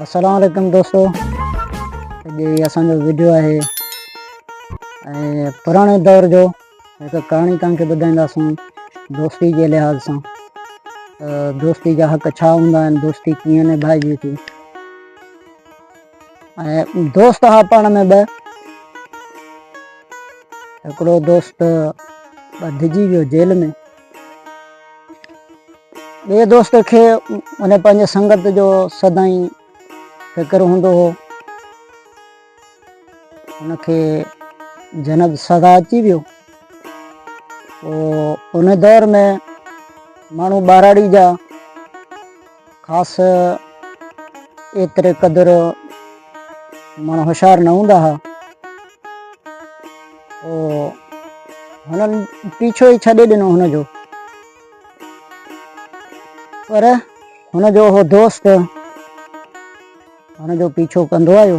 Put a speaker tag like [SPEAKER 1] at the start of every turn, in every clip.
[SPEAKER 1] السلام عليڪم دوستو جي اسان جو ويڊيو آهي ۽ پراڻي دور جو هڪ ڪهاڻي تان کي ٻڌائينداسون دوستي جي لحاظ سان دوستي جا حق ڇا هوندا آهن دوستي ڪيئن نڀائجي ٿي ۽ دوست ها پاڻ ۾ ٻه هڪڙو دوست ٻڌجي ويو جيل ۾ ٻئي دوست کي ان پنهنجي سنگت جو سدائين فڪر هوندو هو ان کي جنت سزا اچي ويو ان دور ۾ ماڻهو ٻاراڙي جا خاص ايتري قدر ماڻهو هوشيار نه هوندا ها او هنن پيڇو ئي ڇڏي ڏنو هن جو پر هن جو هو دوست هن جو پيڇو ڪندو آيو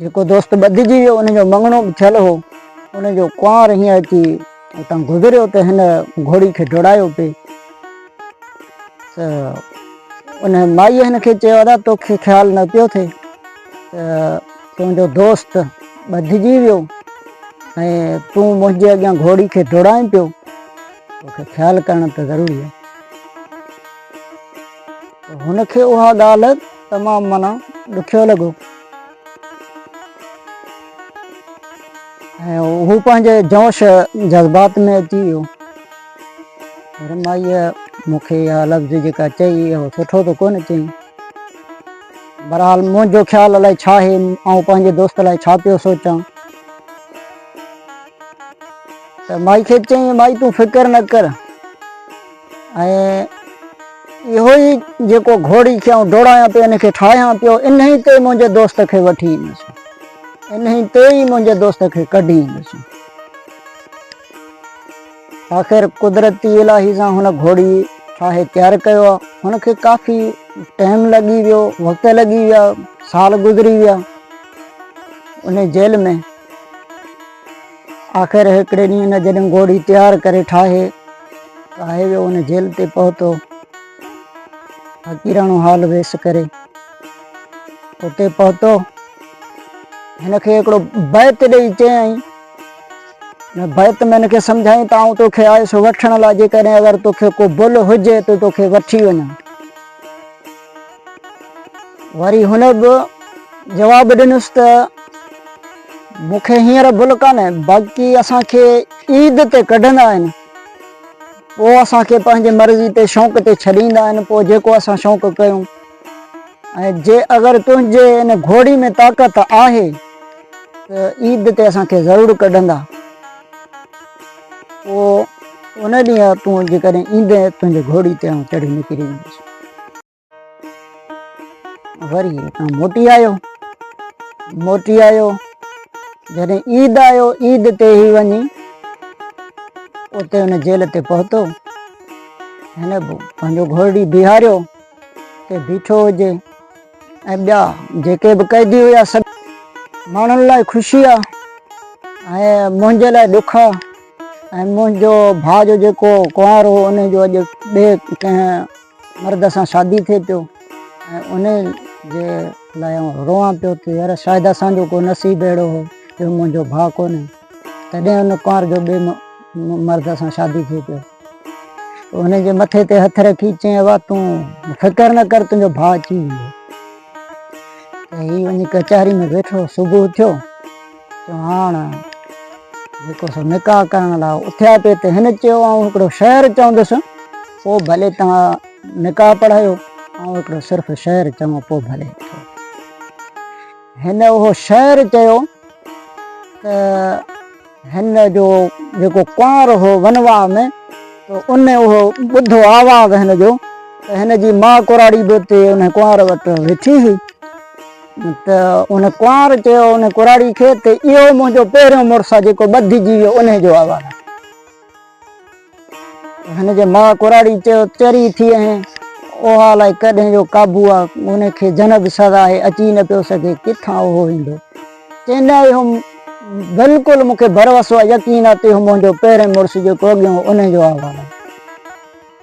[SPEAKER 1] جيڪو دوست ٻڌجي ويو ان جو مڱڻو به ٿيل هو ان جو ڪنوار هينئن اچي اتان گذريو ته هن گهوڙي کي ڊوڙايو پئي ته ان مائيء هن کي چيو ادا توکي خيال نه پيو ٿئي ته تنهنجو دوست ٻڌجي ويو ۽ تون منهنجي اڳيان گهوڙي کي ڊوڙائين پيو توکي خيال ڪرڻ ته ضروري آهي هن کي اها ڳالهه تمام معنيٰ ڏکيو لڳو ۽ هو پنهنجي جوش جذبات ۾ اچي ويو پر مائيء مون کي اها لفظ جيڪا چئي اهو سٺو ته ڪونه چئي بهرحال منهنجو خيال الائي ڇا آهي آئون پنهنجي دوست لاء ڇا پيو سوچان ته مائي کي چئي مائي تون فڪر نه ڪر ۽ اهو ئي جيڪو گهوڙي کي آئون ڊوڙايان پيو، ان کي ٺاهيان پيو، انهي تي منهنجي دوست کي وٺي ايندس، انهي تي ئي منهنجي دوست کي ڪڍي ايندس. آخر قدرتي الاهي سان هن گهوڙي ٺاهي تيار ڪيو آهي. هن کي ڪافي ٽائيم لڳي ويو، وقت لڳي ويا، سال گذري ويا انهي جيل ۾. آخر هڪڙي ڏينهن هن جڏهن گهوڙي تيار ڪري ٺاهي ته آهي ويو ان جهيل تي پهتو فقيراڻو حال ويس ڪري اتي پهتو هن کي هڪڙو بيت ڏئي چيائين هن بيت ۾ هن کي سمجھائين ته آئون توکي آيس وٺڻ لاء جيڪڏهن اگر توکي ڪو بل هجي ته توکي وٺي وڃان وري هن به جواب ڏنس ته مون کي هينئر ڀل ڪانهي باقي اسان کي عيد تي ڪڍندا آهن پوء اسان کي پنهنجي مرضي تي شوق تي ڇڏيندا آهن پوء جيڪو اسان شوق ڪيون ۽ جي اگر تنهنجي ان گهوڙي ۾ طاقت آهي ته عيد تي اسان کي ضرور ڪڍندا. پوء ان ڏينهن تون جيڪڏهن ايندين تنهنجي گهوڙي تي آئون چڙهي نڪري ويندس. وري هتان موٽي آيو. موٽي آيو جڏهن عيد آيو عيد تي هي وڃي اتي ان جيل تي پهتو هن پنهنجو گهوڙي بيهاريو ته بيٺو هجي ۽ ٻيا جيڪي به قيدي هيا سڀ ماڻهن لاء خوشي آ ۽ منهنجي لاء ڏک آ ۽ منهنجو ڀاء جو جيڪو ڪنوار هو ان جو اڄ ٻي ڪنهن مرد سان شادي ٿئي پيو ۽ ان جي لاء روئان پيو ته يار شايد اسان جو ڪو نصيب اهڙو هو جو منهنجو ڀاء ڪونهي تڏهن ان ڪنوار جو ٻي مرد سان شادي ٿئي پيو هن جي مٿي تي هٿ رکي چيائين ابا تون فڪر نه ڪر تنهنجو ڀاء اچي ويندو. هي وڃي ڪچهري ۾ ويٺو صبح اٿيو چيو هاڻ جيڪو سو نڪاح ڪرڻ لاء اٿيا پئي ته هن چيو آئون هڪڙو شعر چوندس پوء ڀلي توهان نڪاح پڙهايو آئون هڪڙو صرف شعر چوان پوء ڀلي هن اهو شعر چيو ته هن جو جيڪو ڪنوار هو ونواهه ۾ ته ان اهو ٻڌو آواز هن جو ته هن جي ماء ڪراڙي به اتي ان ڪنوار وٽ ويٺي هئي ته ان ڪنوار چيو ان ڪراڙي کي ته اهو منهنجو پهريون مڙس آهي جيڪو ٻڌجي ويو ان جو آواز هن جي ماء ڪراڙي چيو، چري ٿي اهين، اوهان الائي ڪڏهن جو قابو آ، ان کي جنگ سزا آهي، اچي نه پيو سگهي، ڪٿان اهو ايندو؟ چيو، نه اهو بلڪل مون کي ڀروسو آ، يقين آ ته اهو منهنجو پهرين مڙس جيڪو اڳيون هو، انهي جو احوال آ.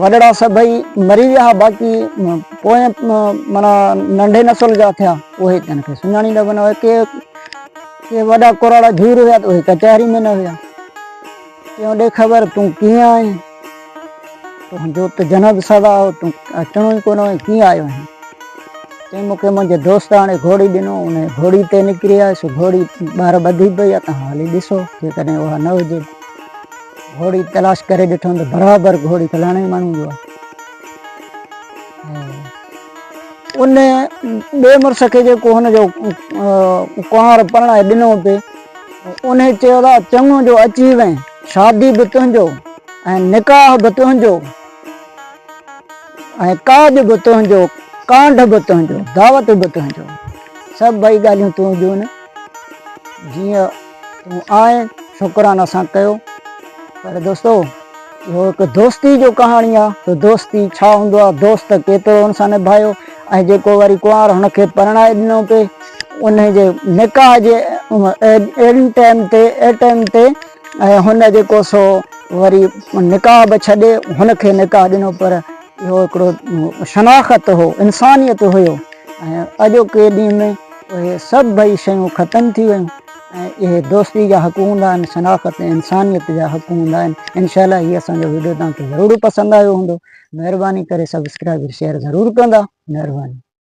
[SPEAKER 1] وڏڙا سڀئي مري ويا ها باقي پوئين معنيٰ ننڍي نسل جا ٿيا اهي ڪن کي سڃاڻي نه بنا ڪي ڪي وڏا ڪراڙا ڌير هيا ته اهي ڪچهري ۾ نه هيا تنهن ڏي خبر تون ڪيئن آهين تنهنجو ته جنب سدا هو تون اچڻو ئي ڪونه هو ڪيئن آيو آهين تنهن موقعي منهنجي دوست هاڻي گهوڙي ڏنو ان گهوڙي تي نڪري آيس گهوڙي ٻاهر ٻڌي پئي آ تان هلي ڏسو جيڪڏهن اها نه هجي گهوڙي تلاش ڪري ڏٺم ته برابر گهوڙي فلاڻي ماڻهو جو آهي ان ٻئي مڙس کي جيڪو هن جو ڪنوار پرڻائي ڏنو پي ان چيو ته چڱو جو اچي وئين شادي به تنهنجو ۽ نڪاح به تنهنجو ۽ ڪاڄ به تنهنجو ڪانڊ به تنهنجو دعوت به تنهنجو سڀ ٻئي ڳالهيون تون جون جيئن تون آئين شڪران اسان ڪيو پر دوستو اهو هڪ دوستي جو ڪهاڻي آ تو دوستي ڇا هوندو آ دوست ڪيترو هن سان نڀايو ۽ جيڪو وري ڪنوار هن کي پرڻائي ڏنو پي ان جي نڪاح جي اهڙي ٽائيم تي اهڙي ٽائيم تي ۽ هن جيڪو سو وري نڪاح به ڇڏي هن کي نڪاح ڏنو پر اهو هڪڙو شناخت هو انسانيت هيو ۽ اڄوڪي ڏينهن ۾ اهي سڀئي شيون ختم ٿي ويون ۽ اهي دوستي جا حق هوندا آهن شناخت ۽ انسانيت جا حق هوندا آهن انشاء الله هي اسان جو ويڊيو توهان کي ضرور پسند آيو هوندو مهرباني ڪري سبسڪرائيب شيئر ضرور ڪندا مهرباني.